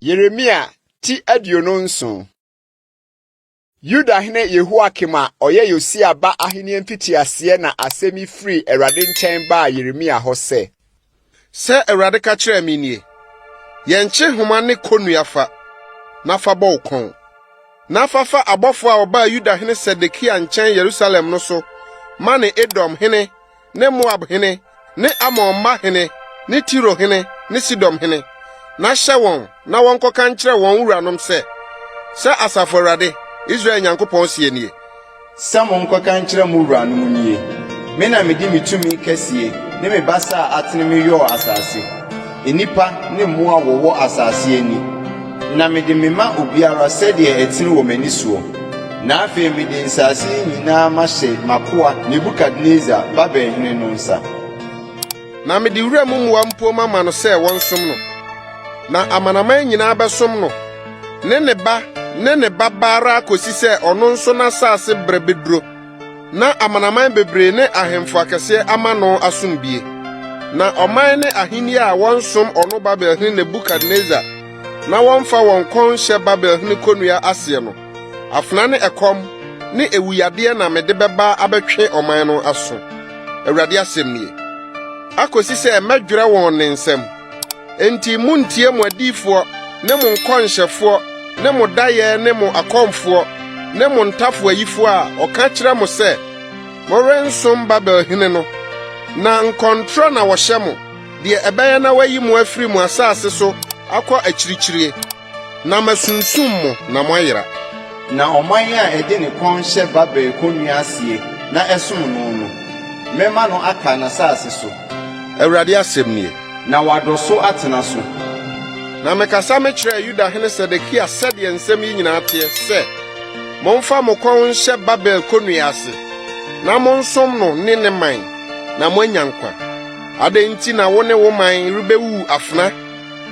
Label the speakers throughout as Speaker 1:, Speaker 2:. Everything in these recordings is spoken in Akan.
Speaker 1: Yeremia ti aduonu nson Yudahene Yehoakim a ɔyɛ Yosia ba ahenni mfitiaseɛ na asɛm yi firi Awurade nkyɛn baa Yeremia hɔ sɛ, Sɛ
Speaker 2: Awurade ka kyerɛɛ me nie, Yɛ nkyehoma ne kɔnnua fa, na fa bɔ wo kɔn, na fa fa abɔfoɔ a wɔbaa Yuda hene Sedekia nkyɛn Yerusalem no so ma ne Edom hene ne Moab hene ne Amon mma hene ne Tiro hene ne Sidom hene, na hyɛ wɔn na wɔnkɔka nkyerɛ wɔn wuranom sɛ, 'Sɛ Asafo Awurade, Israel Nyankopɔn seɛ nie, Sɛ monkɔka
Speaker 3: nkyerɛ mo wuranom nie, 'Me na mede me tumi kɛseɛ ne me basa a atene meyɔɔ asase, nnipa ne mmoa a wɔwɔ asase ani, na mede mema obiara sɛdeɛ ɛtene wɔ m'ani soɔ. Na afei mede nsase yi nyinaa mahyɛ m'akoa Nebukadnesar, Babel hene no nsa. Na
Speaker 2: mede wuram mmoa mpo mama no sɛ wɔnsom no, na amanaman nyinaa bɛsom no, ne ne ba ne ne babaa ara akosi sɛ ɔno nso n'asase bere beduro, na amanaman bebree ne ahemfo akɛseɛ ama no asomdwie. Na ɔman ne ahenni a wɔnsom ɔno Babelhene Nebukadnesar na wɔmfa wɔn kɔn nhyɛ Babelhene kɔnnua aseɛ no, Afena ne ɛkɔm ne ewuyadeɛ na mede bɛba abɛtwe ɔman no aso, Awurade asɛm nie, akosi sɛ mɛdwerɛ wɔn ne nsam. Enti monntie mo adiyifoɔ ne mo nkɔnhyɛfoɔ ne mo dayɛ ne mo akɔmfoɔ ne mo ntafoayifoɔ a wɔka kyerɛ mo sɛ morensom Babel hene no, na nkɔntorɔ na wɔhyɛ mo, deɛ ɛbɛyɛ na wɔayi mo afiri mo asase so akɔ akyirikyiri. Na masunsum mo na moayera. Na ɔman
Speaker 3: a ɛde ne kɔn hyɛ Babel kɔnnua aseɛ na ɛsom no no, mɛma no aka n'asase so. Awurade asɛm
Speaker 2: nie. Na wadɔ so
Speaker 3: atena so. Na
Speaker 2: mekasa mekyerɛɛ Yuda hene Sedekia sɛdeɛ nsɛm yi nyinaa teɛ sɛ, Momfa mo kɔn nhyɛ Babel kɔnnua ase, na monsom no ne ne man, na moanya nkwa. Adɛn nti na wo ne wo man rebɛwuwu afena?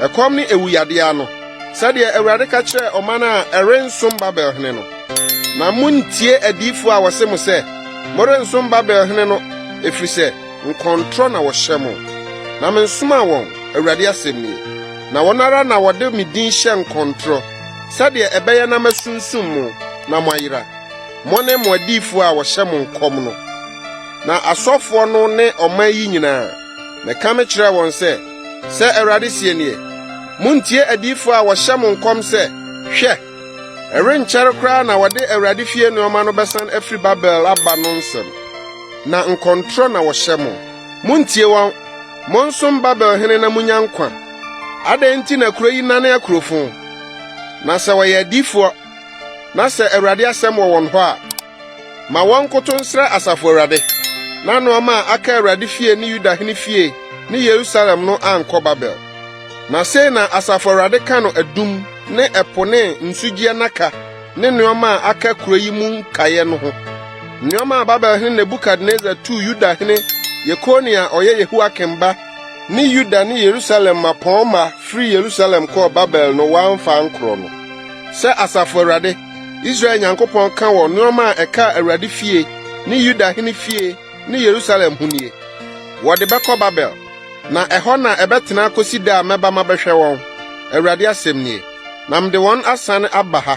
Speaker 2: Ɛkɔm ne awuyade ano, sɛdeɛ Awurade ka kyerɛɛ ɔman a ɛrensom Babel hene no. Na monntie adiyifoɔ a wɔse mo sɛ, Morensom Babel hene no, ɛfiri sɛ nkɔntorɔ na wɔhyɛ mo. Na mensomaa wɔn, Awurade asɛm nie. Na wɔn ara na wɔde me din hyɛ nkɔntorɔ, sɛdeɛ ɛbɛyɛ na masunsum mo na moayera, mo ne mo adiyifoɔ a wɔhyɛ mo nkɔm no, na asɔfoɔ no ne ɔman yi nyinaa. Mekame kyerɛɛ wɔn sɛ, Sɛ Awurade sie nie, muntie adiyifo a wɔhyɛ mo nkɔm sɛ, 'Hwɛ! Ɛrenkyɛre koraa na wɔde Awurade fie nneɛma no bɛsan afiri Babel aba' no nsɛm. Na nkɔntorɔ na wɔhyɛ mo. Muntie wɔn! Monsom Babel hene na munya nkwa! Adɛn nti na kuro yi nane akurofon? Na sɛ wɔyɛ adiyifoɔ, na sɛ Awurade asɛm wɔ wɔn hɔ a, Ma wɔnkoto nsrɛ Asafo Awurade, na nneɛma a aka Awurade fie ne Yuda hene fie ne Yerusalem no ankɔ Babel. Na sei na Asafo Awurade ka no adum ne ɛpo ne nsugyeɛ nnaka ne nneɛma a aka kuro yi mu nkaeɛ no ho. Nneɛma a Babel hene Nebukadnesar tuu Yuda hene Yekonia a ɔyɛ Yehoiakim ba ne Yuda ne Yerusalem mmapɔmma firi Yerusalem kɔɔ Babel no wamfa ankorɔ no, sɛ Asafo Awurade Israel Nyankopɔn ka wɔ nneɛma a ɛkaa Awurade fie ne Yuda hene fie ne Yerusalem ho nie, Wɔde bɛkɔ Babel, na ɛhɔ na ɛbɛtena akosi da a mɛba mabɛhwɛ wɔn, Awurade asɛm nie, na mede wɔn asan aba ha.